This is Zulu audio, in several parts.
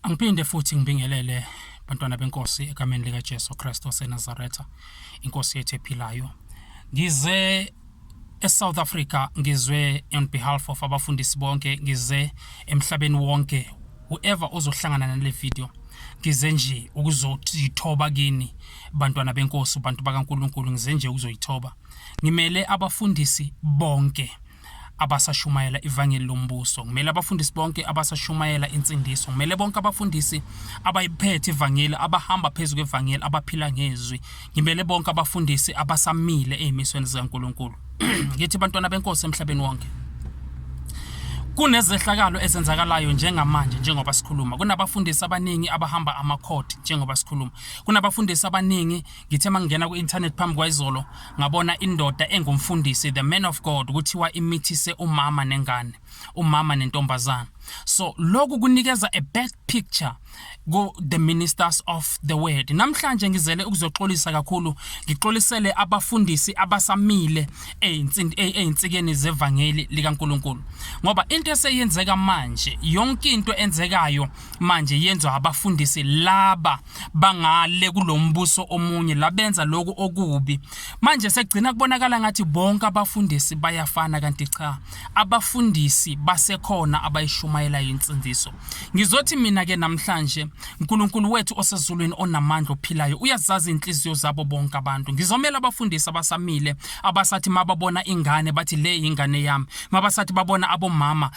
Angiphinde futhi ngibingelele bantwana benkosi egameni likaJesu Kristu waseNazaretha, inkosi yethu ephilayo. Ngize eSouth Africa ngizwe on behalf of abafundisi bonke ngize emhlabeni wonke whoever ozohlangana nale video ngize nje ukuzothoba kini bantwana benkosi bantu bakaNkuluNkulu ngize nje ukuzoyithoba ngimele abafundisi bonke abasashumayela ivangeli lombuso kumele abafundisi bonke abasashumayela insindiso kumele bonke abafundisi abayiphethe ivangeli abahamba phezu kwevangeli abaphila ngezwi ngimele bonke abafundisi abasamile ezimisweni zikaNkuluNkulu ngithi bantwana benkosi emhlabeni wonke kunezehlakalo ezenzakalayo njengamanje njengoba sikhuluma kunabafundisi abaningi abahamba amakhodi njengoba sikhuluma kunabafundisi abaningi ngithe mangingena ku-internet phambi kwayizolo ngabona indoda engumfundisi the man of god kuthiwa imithise umama nengane umama nentombazana so lokhu kunikeza a bad picture ku the ministers of the word namhlanje ngizele ukuzoxolisa kakhulu ngixolisele abafundisi abasamile einsikeni zevangeli likaNkuluNkulu ngoba into eseyenzeka manje yonke into enzekayo manje yenzwa abafundisi laba bangale kulombuso omunye labenza lokho okubi manje sekugcina kubonakala ngathi bonke abafundisi bayafana kanti cha abafundisi basekhona abayishumayela insindiso ngizothi mina ke namhlanje uNkulunkulu wethu osezulwini onamandla ophilayo uyazazi inhliziyo zabo bonke abantu ngizomela abafundisi abasamile abasathi mababona ingane bathi le ingane yami mabasathi babona abomama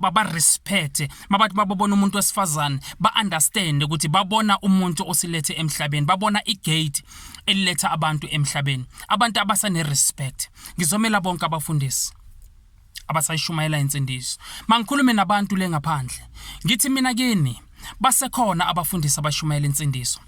babarespecte mabathi bababona umuntu wesifazane ba-understande ukuthi babona umuntu osilethe emhlabeni babona igate eliletha abantu emhlabeni abantu abasanerespect ngizomela bonke abafundisi abasayishumayela insindiso mangikhulume nabantu le ngaphandle ngithi mina kini basekhona abafundisi abashumayela insindiso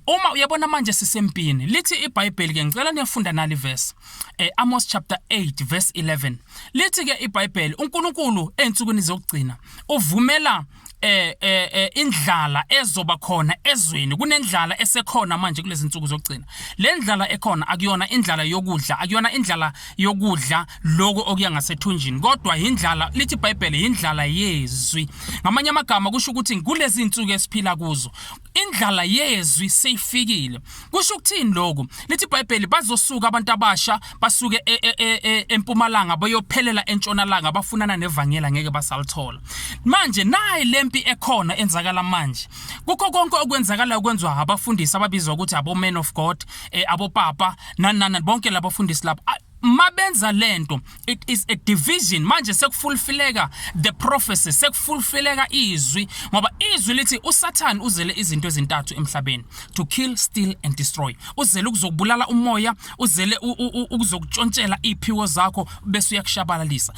uma uyabona manje sisempini lithi ibhayibheli ke ngicela niyafunda nali verse eh, Amos chapter 8 verse 11 lithi ke ibhayibheli uNkulunkulu ensukwini zokugcina uvumela eh, eh, eh indlala ezoba khona ezweni kunendlala esekhona manje kulezi nsuku zokugcina le ndlala ekhona akuyona indlala yokudla akuyona indlala yokudla lokho okuya ngasethunjini kodwa yindlala lithi iBhayibheli yindlala yezwi ngamanye amagama kusho ukuthi kulezi insuku esiphila kuzo indlala yezwi seyifikile kusho ukuthini lokho lithi iBhayibheli bazosuka abantu abasha basuke e, e, e, empumalanga bayophelela entshonalanga bafunana nevangela ngeke basalithola manje nayi lempi ekhona enzakala manje kukho konke okwenzakala okwenzwa abafundisi ababizwa ukuthi abo men of god abopapa nanana bonke labafundisi laba mabenza lento it is a division manje sekufulfileka the prophecy sekufulfileka izwi ngoba izwi lithi usathane uzele izinto ezintathu emhlabeni to kill steal and destroy uzele ukuzokubulala umoya uzele ukuzokutshontshela iphiwo zakho bese uyakushabalalisa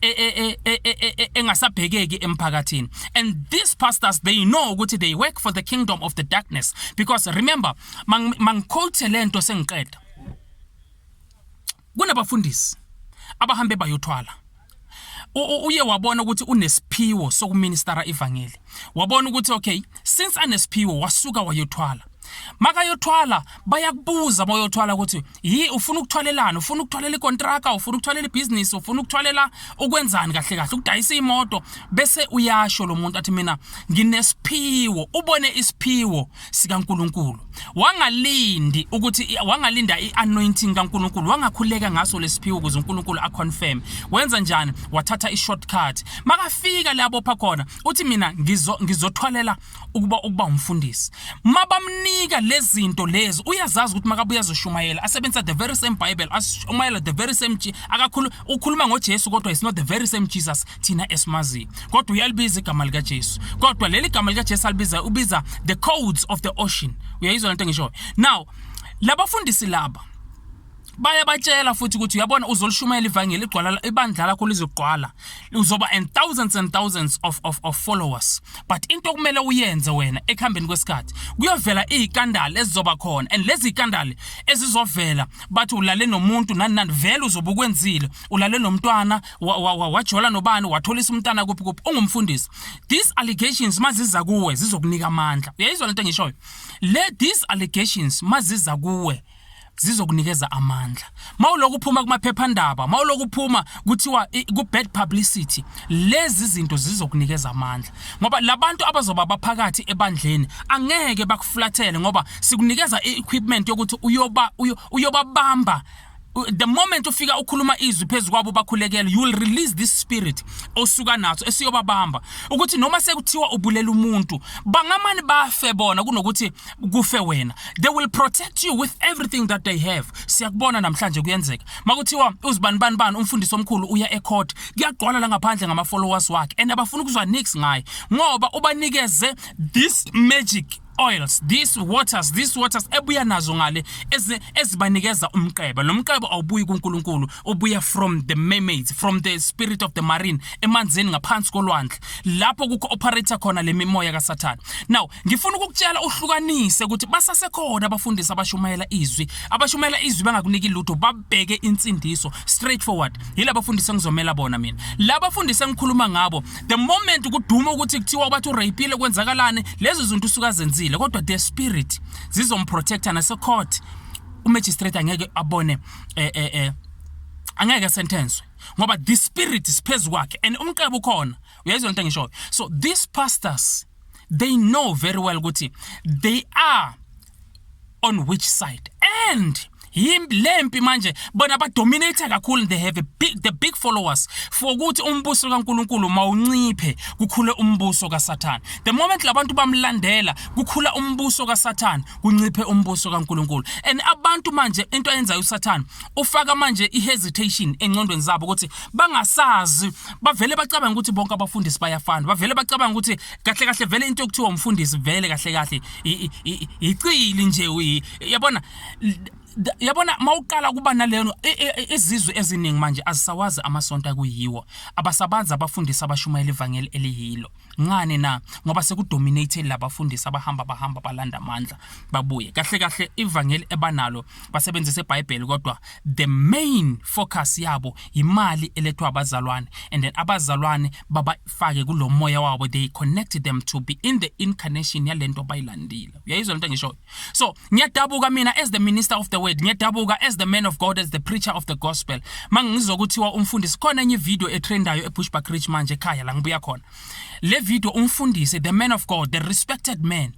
e, e, e, engasabhekeki emphakathini and these pastors they know ukuthi they work for the kingdom of the darkness because remember mangiquote lento sengiqeda kunabafundisi abahambe bayothwala uye wabona ukuthi unesiphiwo sokuministara ivangeli wabona ukuthi okay since anesiphiwo wasuka wayothwala makayothwala bayakubuza uma uyothwala ukuthi yi ufuna ukuthwalelana ufuna ukuthwalela ikontraka ufuna ukuthwalela ibhizinisi ufuna ukuthwalela ukwenzani kahle kahle ukudayisa imoto bese uyasho lo muntu athi mina nginesiphiwo ubone isiphiwo sikaNkuluNkulu wangalindi ukuthi wangalinda ianointing kaNkuluNkulu wangakhuleka ngaso lesiphiwo ukuze uNkuluNkulu aconfirm wenza njani wathatha ishortcut makafika lapho pha khona uthi mina ngizo ngizothwalela ukuba ukuba umfundisi mabamnika lezinto lezi uyazazi ukuthi makabuya zoshumayela asebenzisa the very same bible ashumayela the very same akakhulu ukhuluma ngoJesu kodwa is not the very same Jesus thina esimazi kodwa uyalibiza igama lika Jesu kodwa leli gama lika Jesu alibiza ubiza the codes of the ocean uyayizwa lento ngisho now labafundisi laba bayabatshela futhi ukuthi uyabona uzolishumayela ivangeli igcwala ibandla lakho lizogqwala uzoba and thousands and thousands of, of, of followers but into okumele uyenze wena ekuhambeni kwesikhathi kuyovela iy'kandali ezizoba khona and lezi y'kandali ezizovela bathi ulale nomuntu nani nani vele uzobe ukwenzile ulale nomntwana wajola nobani watholisa umntana kuphi kuphi ungumfundisi these allegations maziza kuwe zizokunika amandla uyayizwa lento engishoyo le these allegations maziza kuwe zizokunikeza amandla mawulokhu uphuma kumaphephandaba mawulokhu uphuma kuthiwa ku bad publicity lezi zinto zizokunikeza amandla ngoba labantu abazoba baphakathi ebandleni angeke bakuflathele ngoba sikunikeza equipment yokuthi uyoba uyobabamba the moment ufika ukhuluma izwi phezu kwabo bakhulekele you will release this spirit osuka naso esiyobabamba ukuthi noma sekuthiwa ubulela umuntu bangamani bafe bona kunokuthi kufe wena they will protect you with everything that they have siyakubona namhlanje kuyenzeka makuthiwa uzibani bani bani umfundisi omkhulu uya ecourt kuyagqwala la ngaphandle ngama followers wakhe and abafuna ukuzwa nix ngaye ngoba ubanikeze this magic oils these waters these waters ebuya nazo ngale ezibanikeza umqeba lo mqeba awubuyi kuNkulunkulu ubuya from the mermaids from the spirit of the marine emanzini ngaphansi kolwandle lapho kukho operator khona lemimoya kaSathane now Ngifuna ukukutshela uhlukanise ukuthi basasekhona abafundisi abashumayela izwi. Abashumayela izwi bangakuniki lutho babheke insindiso straight forward. Yila bafundisi engizomela bona mina. La bafundisi engikhuluma ngabo the moment kuduma ukuthi kuthiwa bathi urapile kwenzakalani lezi zinto usuka zenzile kodwa the spirit zizomprotecta nase court. Umagistrate angeke abone eh eh eh angeke sentence ngoba the spirit siphezu kwakhe and umqebo ukhona uyayizwa into engishoyo so these pastors they know very well ukuthi they are on which side and lempi manje bona badominate kakhulu they have a big, the big followers for ukuthi umbuso kaNkuluNkulu mawunciphe kukhule umbuso kaSathane the moment labantu bamlandela kukhula umbuso kaSathane kunciphe umbuso kaNkuluNkulu and abantu manje into ayenzayo uSathane ufaka manje ihesitation encondweni zabo ukuthi bangasazi bavele bacabanga ukuthi bonke abafundisi bayafana bavele bacabanga ukuthi kahle kahle vele into yokuthiwa umfundisi vele kahle kahle icili nje yabona yabona mawuqala kuba naleno e, e, e, izizwe eziningi manje azisawazi amasonto akuyiwo abasabanzi abafundisa abashumayela ivangeli eliyilo ngani na ngoba sekudominated labafundisi abahamba bahamba balanda amandla babuye kahle kahle ivangeli ebanalo basebenzisa eBhayibheli kodwa the main focus yabo imali elethwa abazalwane and then abazalwane babafake kulomoya wabo they connect them to be in the incarnation yalento bayilandile uyayizwa lento ngisho so ngiyadabuka mina as the minister of the word ngiyadabuka as the man of god as the preacher of the gospel mangizwa ukuthiwa umfundisi khona enye video etrendayo ebushback rich manje ekhaya la ngibuya khona le video umfundisi the man of god the respected man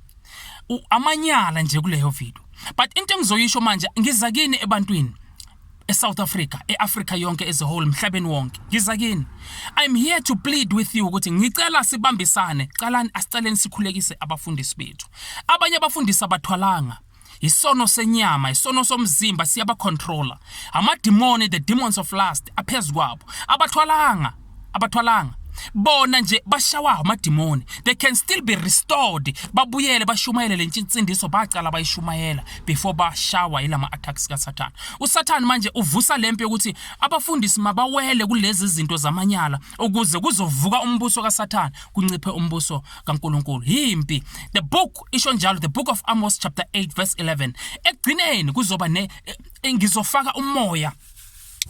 amanyala nje kuleyo video but into engizoyisho manje ngiza kini ebantwini eSouth Africa, eAfrica yonke as a whole, mhlabeni wonke. Ngiza kini. I'm here to plead with you ukuthi ngicela sibambisane, calani asiceleni sikhulekise abafundisi bethu. Abanye abafundisi abathwalanga isono senyama isono somzimba siyabacontrola amadimoni the demons of lust aphezu kwabo abathwalanga abathwalanga bona nje bashawa amadimoni they can still be restored babuyele bashumayele le nsindiso bacala bayishumayela before bashawa ilama attacks kaSathane uSathane manje uvusa lempi yokuthi abafundisi mabawele kulezi zinto zamanyala ukuze kuzovuka umbuso kaSathane kunciphe umbuso kaNkuluNkulu yimpi the book isho njalo the book of Amos chapter 8 verse 11 ekugcineni kuzoba ne eh, ngizofaka umoya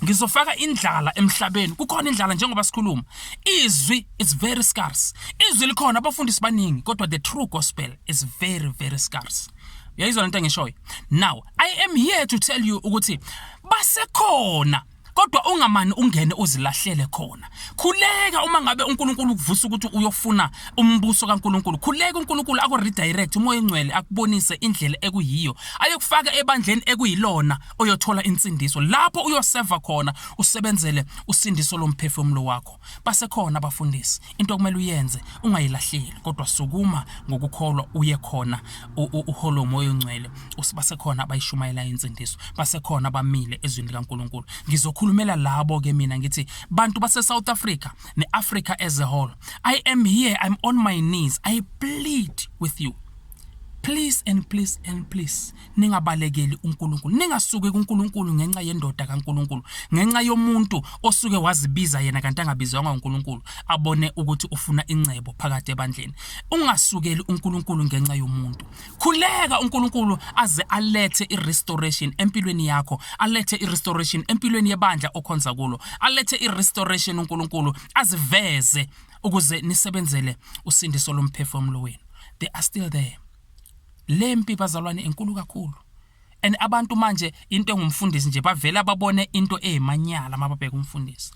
ngizofaka indlala emhlabeni kukhona indlala njengoba sikhuluma izwi is very scarce izwi likhona abafundisi baningi kodwa the true gospel is very very scarce uyayizwa lento engishoyo now i am here to tell you ukuthi basekhona kodwa ungamani ungene uzilahlele khona khuleka uma ngabe uNkulunkulu ukuvusa ukuthi uyofuna umbuso kaNkulunkulu khuleka uNkulunkulu aku redirect umoya engcwele akubonise indlela ekuyiyo ayokufaka ebandleni ekuyilona oyothola insindiso lapho uyoseva khona usebenzele usindiso lomphefumulo wakho basekhona abafundisi into okumele uyenze ungayilahleli kodwa sukuma ngokukholwa uye khona uholo moyo ongcwele usibasekhona abayishumayela insindiso basekhona abamile ezwini likaNkuluNkulu ngizokhulumela labo ke mina ngithi bantu base South Africa neAfrica as a whole i am here i'm on my knees i plead with you please and please and please ningabalekeli uNkulunkulu ningasuki kuNkulunkulu ngenxa yendoda kaNkulunkulu ngenxa yomuntu osuke wazibiza yena kanti angabizwanga uNkulunkulu abone ukuthi ufuna incebo phakathi ebandleni ungasukeli uNkulunkulu ngenxa yomuntu khuleka uNkulunkulu aze alethe irestoration empilweni yakho alethe irestoration empilweni yebandla okhonza kulo alethe irestoration uNkulunkulu aziveze ukuze nisebenzele usindiso lomphefumulo wenu they are still there Lempi bazalwane inkulu kakhulu. And abantu manje into engumfundisi nje bavela babone into ezimanyala mababheka umfundisi.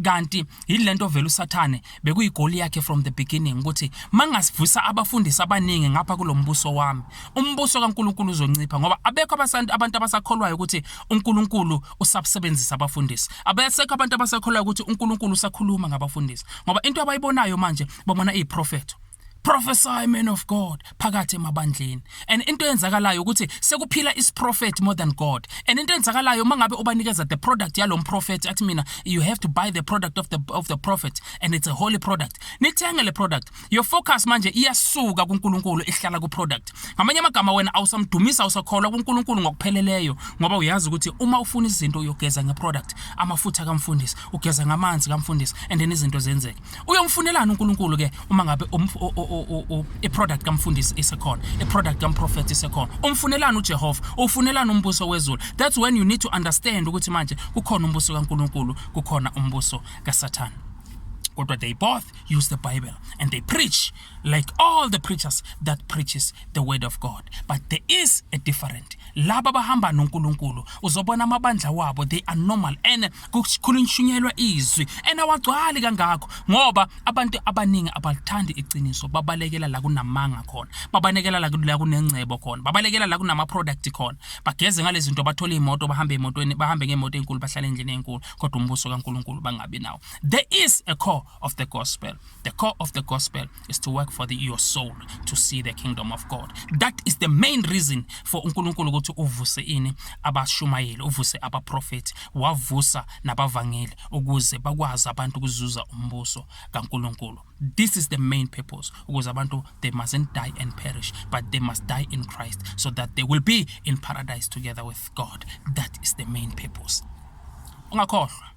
Kanti yilento vele uSathane bekuyigoli yakhe from the beginning ukuthi mangasivisa abafundisi abaningi ngapha kulombuso wami. Umbuso kaNkuluNkulu uzoncipha ngoba abekho abasantu abantu abasakholwayo ukuthi uNkuluNkulu usabsebenzisa abafundisi. Abasekho abantu abasakholwayo ukuthi uNkuluNkulu usakhuluma ngabafundisi. Ngoba into abayibonayo manje babona iziprofetho. prophesy man of god phakathi emabandleni and into eyenzakalayo ukuthi sekuphila isiprophet more than god and into eyenzakalayo mangabe ubanikeza the product yalo prophet athi mina you have to buy the product of the of the prophet and it's a holy product nithenge le product your focus manje iyasuka kuNkulunkulu ihlala ku product ngamanye amagama wena awusamdumisa usakholwa kuNkulunkulu ngokupheleleyo ngoba uyazi ukuthi uma ufuna izinto uyogeza nge product amafutha kamfundisi ugeza ngamanzi kamfundisi and then izinto zenzeke uyomfunelani uNkulunkulu ke uma ngabe iproduct kamfundisi isekhona iproduct kamprofethi isekhona umfunelani uJehova ufunelani umbuso wezulu that's when you need to understand ukuthi manje kukhona umbuso kaNkulunkulu kukhona umbuso kaSathane kodwa they both use the bible and they preach like all the preachers that preaches the word of god but there is a different laba bahamba noNkulunkulu uzobona amabandla wabo they are normal and kukhulunyishunyelwa izwi and awagcwali kangakho ngoba abantu abaningi abalithandi iqiniso babalekela la kunamanga khona babalekela la kunengcebo khona babalekela la kunama-product khona bageze ngalezi zinto bathole iy'moto bahambe emotweni bahambe ngemoto enkulu bahlale endlini enkulu kodwa umbuso kankulunkulu bangabi nawo there is a core of the gospel. The core of the gospel is to work for the, your soul to see the kingdom of God. That is the main reason for uNkulunkulu ukuthi uvuse ini abashumayeli, uvuse abaprofeti, wavusa nabavangeli ukuze bakwazi abantu ukuzuza umbuso kaNkulunkulu. This is the main purpose ukuze abantu they mustn't die and perish but they must die in Christ so that they will be in paradise together with God. That is the main purpose. Ungakhohlwa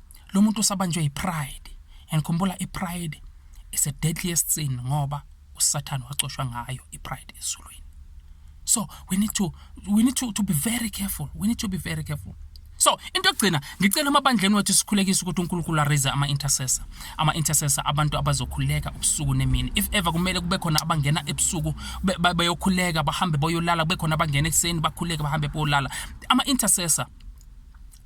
lo muntu usabanjwe yipride and khumbula ipride is a deadliest sin ngoba usathane wacoshwa ngayo ipride ezulwini so we need to we need to, to be very careful we need to be very careful so into yokugcina ngicela amabandleni wethu sikhulekise ukuthi uNkulunkulu araise ama intercessor ama intercessor abantu abazokhuleka ubusuku nemini if ever kumele kube khona abangena ebusuku bayokhuleka bahambe boyolala kube khona abangena ekuseni bakhuleke bahambe boyolala ama intercessor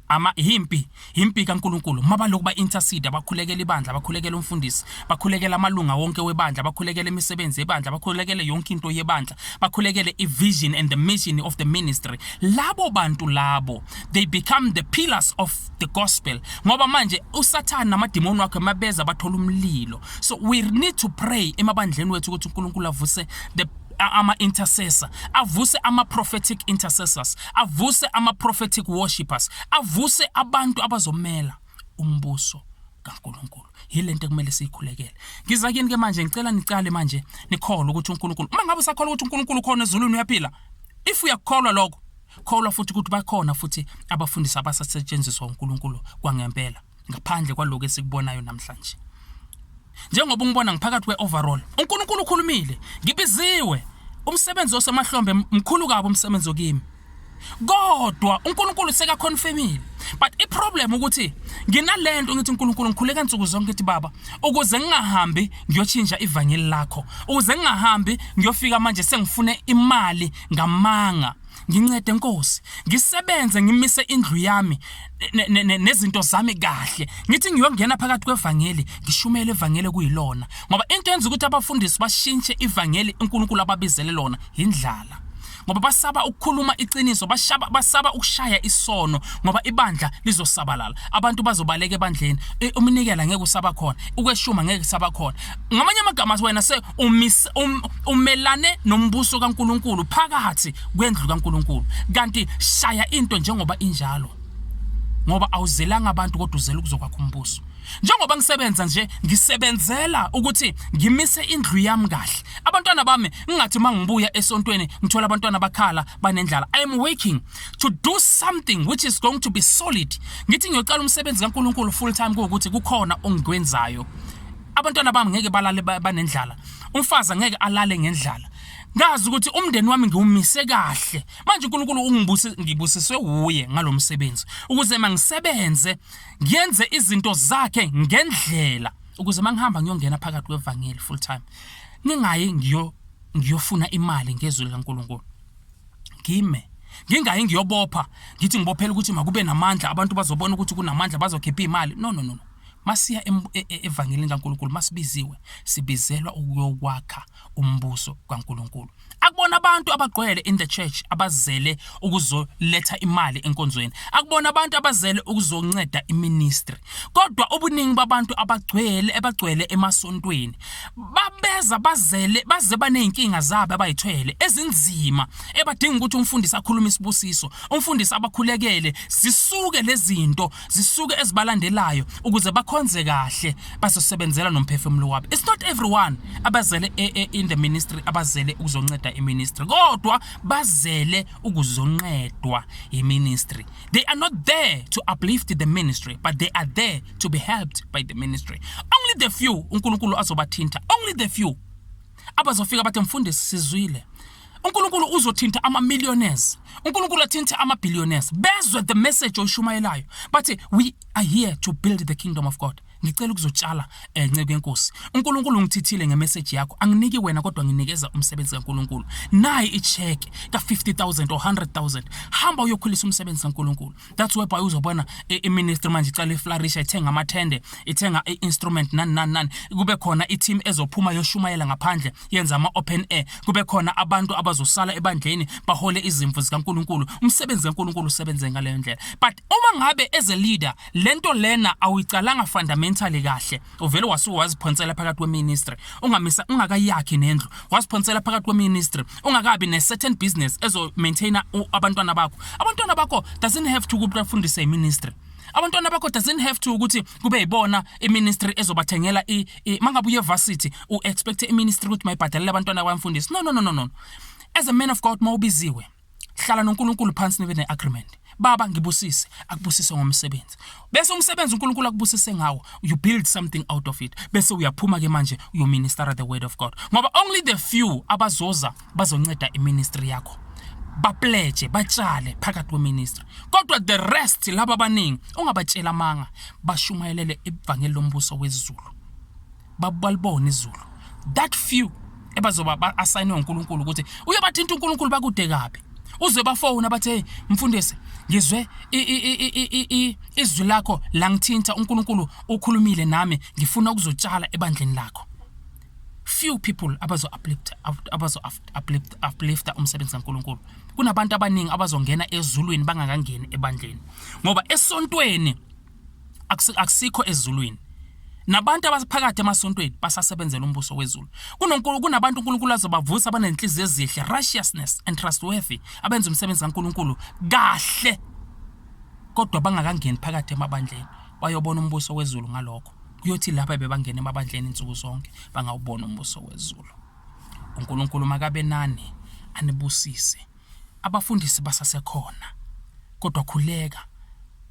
ama yimpi yimpi kaNkuluNkulu mabalokhu ba intercede abakhulekela ibandla abakhulekela umfundisi bakhulekela amalunga wonke webandla bakhulekela imisebenzi yebandla bakhulekele yonke into yebandla bakhulekele ivision and the mission of the ministry labo bantu labo they become the pillars of the gospel ngoba manje usathana namadimoni wakhe mabeza bathola umlilo so we need to pray emabandleni wethu ukuthi uNkulunkulu avuse the ama-intercessor avuse ama-prophetic intercessors avuse ama-prophetic worshippers avuse abantu abazomela umbuso kaNkuluNkulu yile nto ekumele siyikhulekele ngiza kini ke manje ngicela nicale manje nikholwe ukuthi uNkulunkulu uma ngabe usakholwa ukuthi uNkulunkulu khona ezulwini uyaphila if uyakukholwa lokho kholwa futhi ukuthi bakhona futhi abafundisi abasasetshenziswa uNkulunkulu kwangempela ngaphandle kwaloko esikubonayo namhlanje njengoba ungibona ngiphakathi kwe-overall unkulunkulu ukhulumile ngibiziwe umsebenzi osemahlombe mkhulu kabi umsebenzi okimi kodwa uNkulunkulu sekaconfirmile but i problem ukuthi nginalento ngithi uNkulunkulu ngikhuleka insuku zonke ngithi baba ukuze ngingahambi ngiyochinja ivangeli lakho ukuze ngingahambi ngiyofika manje sengifune imali ngamanga Ngincede Nkosi, ngisebenze ngimise indlu yami nezinto zami kahle. Ngithi ngiyongena phakathi kwevangeli, ngishumele ivangeli kuyilona. Ngoba into yenza ukuthi abafundisi bashintshe ivangeli uNkulunkulu ababizele lona yindlala. Ngoba basaba ukukhuluma iqiniso, bashaba basaba ukushaya isono ngoba ibandla lizosabalala. Abantu bazobaleka ebandleni. Umnikela ngeke usaba khona, ukweshuma ngeke kusaba khona. ngamanye amagama athi wena se um, umelane nombuso kaNkuluNkulu phakathi kwendlu kaNkuluNkulu kanti shaya into njengoba injalo ngoba awuzelanga abantu kodwa uzela ukuzokwakha umbuso njengoba ngisebenza nje ngisebenzela ukuthi ngimise indlu yami kahle abantwana bami ngingathi uma ngibuya esontweni ngithola abantwana bakhala banendlala i am working to do something which is going to be solid ngithi ngiyocala umsebenzi kaNkuluNkulu full time kuwukuthi kukhona ongikwenzayo abantwana bami ngeke balale banendlala umfazi angeke alale ngendlala ngazi ukuthi umndeni wami ngiwumise kahle manje uNkulunkulu ungibuse ngibusiswe wuye ngalomsebenzi ukuze mangisebenze ngiyenze izinto zakhe ngendlela ukuze mangihamba ngiyongena phakathi kwevangeli full time ningayi ngiyo ngiyofuna imali ngezwi likaNkulunkulu ngime ngingayi ngiyobopha ngithi ngibophela ukuthi makube namandla abantu bazobona ukuthi kunamandla bazokhipha imali no no no Masiya e, e, evangelini kaNkulunkulu masibiziwe sibizelwa ukuyokwakha umbuso kaNkulunkulu. Akubona abantu abagqwele in the church abazele ukuzoletha imali enkonzweni. Akubona abantu abazele ukuzonceda iministry. Kodwa ubuningi babantu abagcwele ebagcwele emasontweni babeza bazele baze baneyinkinga zabo abayithwele ezinzima ebadinga ukuthi umfundisi akhulume isibusiso. Umfundisi abakhulekele zisuke lezinto zisuke ezibalandelayo ukuze bakhonze kahle bazosebenzela nomphefumulo wabo it's not everyone abazele e, e, in the ministry abazele ukuzonceda iministry kodwa bazele ukuzonqedwa iministry they are not there to uplift the ministry but they are there to be helped by the ministry only the few uNkulunkulu azobathinta only the few abazofika bathi mfundisi sizwile uNkulunkulu uzothinta ama millionaires uNkulunkulu athinta ama billionaires bezwe the message oshumayelayo bathi we are here to build the kingdom of God ngicela ukuzotshala eh, nceke yenkosi uNkulunkulu ngithithile ngemessage yakho anginiki wena kodwa nginikeza umsebenzi kaNkulunkulu nayi icheck ka 50000 or 100000 hamba uyokhulisa umsebenzi kaNkulunkulu that's why by uzobona i-ministry manje icala iflarisha ithenga amathende ithenga i-instrument nani nani nani kube khona i-team ezophuma yoshumayela ngaphandle yenza ama-open air kube khona abantu abazosala ebandleni bahole izimvu zikankulunkulu umsebenzi kankulunkulu usebenze ngaleyo ndlela but uma ngabe as a leader le nto lena awuyicalanga fundamentally kahle uvele wasuke waziphonsela phakathi kweministry ungamisa ungakayakhi nendlu waziphonsela phakathi kweministry ungakabi ne-certain business ezomaintaina abantwana bakho abantwana bakho doesn't have to ukuthi bafundise iministry abantwana bakho doesn't have to ukuthi kube yibona iministry ezobathengela mangabe uye varsity u-expecte iministry ukuthi mayibhadalele abantwana kwamfundisi no no no no no as a man of god mawubiziwe hlala noNkulunkulu phansi nibe ne-agreement baba ngibusise akubusise ngomsebenzi bese umsebenzi uNkulunkulu akubusise ngawo you build something out of it bese uyaphuma ke manje you minister the word of God ngoba only the few abazoza bazonceda iministry yakho bapledge batshale phakathi kweministry kodwa the rest laba abaningi ungabatshela amanga bashumayelele evangeli lombuso wezulu babalibona izulu that few ebazoba ba-asayinwe unkulunkulu ukuthi uyobathinta unkulunkulu bakude kabi uzwe bafowuna bathi hey mfundisi ngizwe izwi lakho langithinta unkulunkulu ukhulumile nami ngifuna ukuzotshala ebandleni lakho few people abazo-uplifta abazo uplifta umsebenzi kankulunkulu kunabantu abaningi abazongena ezulwini bangakangeni ebandleni ngoba esontweni akusikho ezulwini nabantu abaphakathi emasontweni basasebenzela umbuso wezulu kunonkulu kunabantu uNkulunkulu azobavusa abanenhliziyo ezihle righteousness and trustworthy abenza umsebenzi kaNkulunkulu kahle kodwa bangakangeni phakathi emabandleni bayobona umbuso wezulu ngalokho kuyothi lapha bebangena emabandleni insuku zonke bangawubona umbuso wezulu uNkulunkulu makabe nani anibusise Abafundisi basasekhona, kodwa khuleka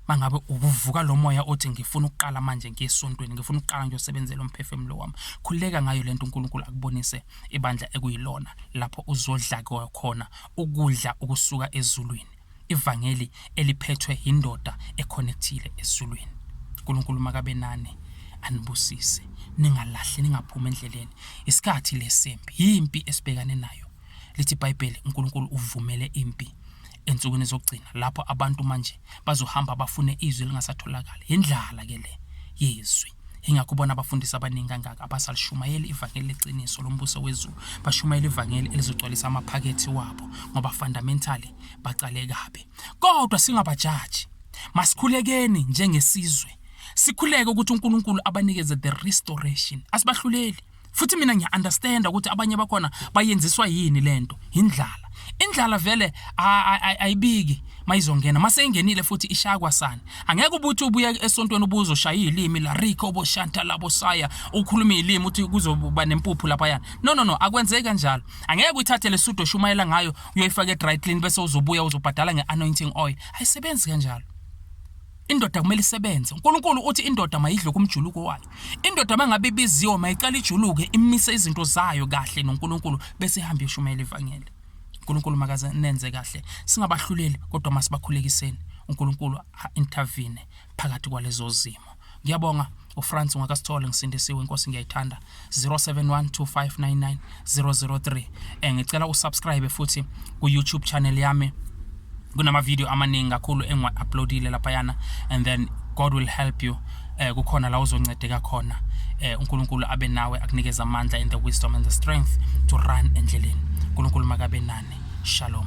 mangabe ukuvuka lo moya othi ngifuna ukuqala manje ngiye esontweni ngifuna ukuqala ngiyosebenzela umphefumulo wami khuleka ngayo lento uNkulunkulu akubonise ibandla ekuyilona lapho uzodla khona ukudla okusuka ezulwini ivangeli eliphethwe indoda econnectile ezulwini uNkulunkulu makabe nani anibusise ningalahli ningaphumi endleleni isikhathi lesempi yimpi esibhekane nayo lithi iBhayibheli uNkulunkulu uvumele impi ensukwini zokugcina lapho abantu manje bazohamba bafune izwi lingasatholakali yindlala ke le yezwi ingakho ubona abafundisi abaningi kangaka abasalshumayeli ivangeli leqiniso lombuso wezulu bashumayela ivangeli elizogcwalisa amaphakethi wabo ngoba fundamentally baqale kabi kodwa singabajaji masikhulekeni njengesizwe sikhuleke ukuthi uNkulunkulu abanikeze the restoration asibahluleli futhi mina ngiya-understanda ukuthi abanye bakhona bayenziswa yini le nto yindlala indlala vele ayibiki mayizongena mase ingenile futhi ishaya kwasani angeke ubuthi ubuye esontweni ubuzo shaya ilimi la Rico bo Shanta labo saya ukhuluma ilimi uthi kuzoba nempuphu lapha yana no no no akwenzeki kanjalo angeke uyithathe lesudo shumayela ngayo uyoyifaka edry clean bese uzobuya uzobhadala ngeanointing oil ayisebenzi kanjalo indoda kumele isebenze uNkulunkulu uthi indoda mayidle kumjuluko wayo indoda mangabe ibiziwe mayiqala ijuluke imise izinto zayo kahle noNkulunkulu bese ihamba yoshumayela ivangeli uNkulunkulu makaze nenze kahle singabahluleli kodwa masibakhulekiseni uNkulunkulu intervene phakathi kwalezo zimo ngiyabonga uFrance ungakasithole ngisindisiwe inkosi ngiyayithanda 071259 003 eh ngicela usubscribe futhi ku YouTube channel yami kunama video amaningi kakhulu engiwa uploadile lapha yana and then God will help you eh kukhona la uzoncedeka khona eh uNkulunkulu abe nawe akunikeza amandla and the wisdom and the strength to run endleleni uNkulunkulu makabe nani shalom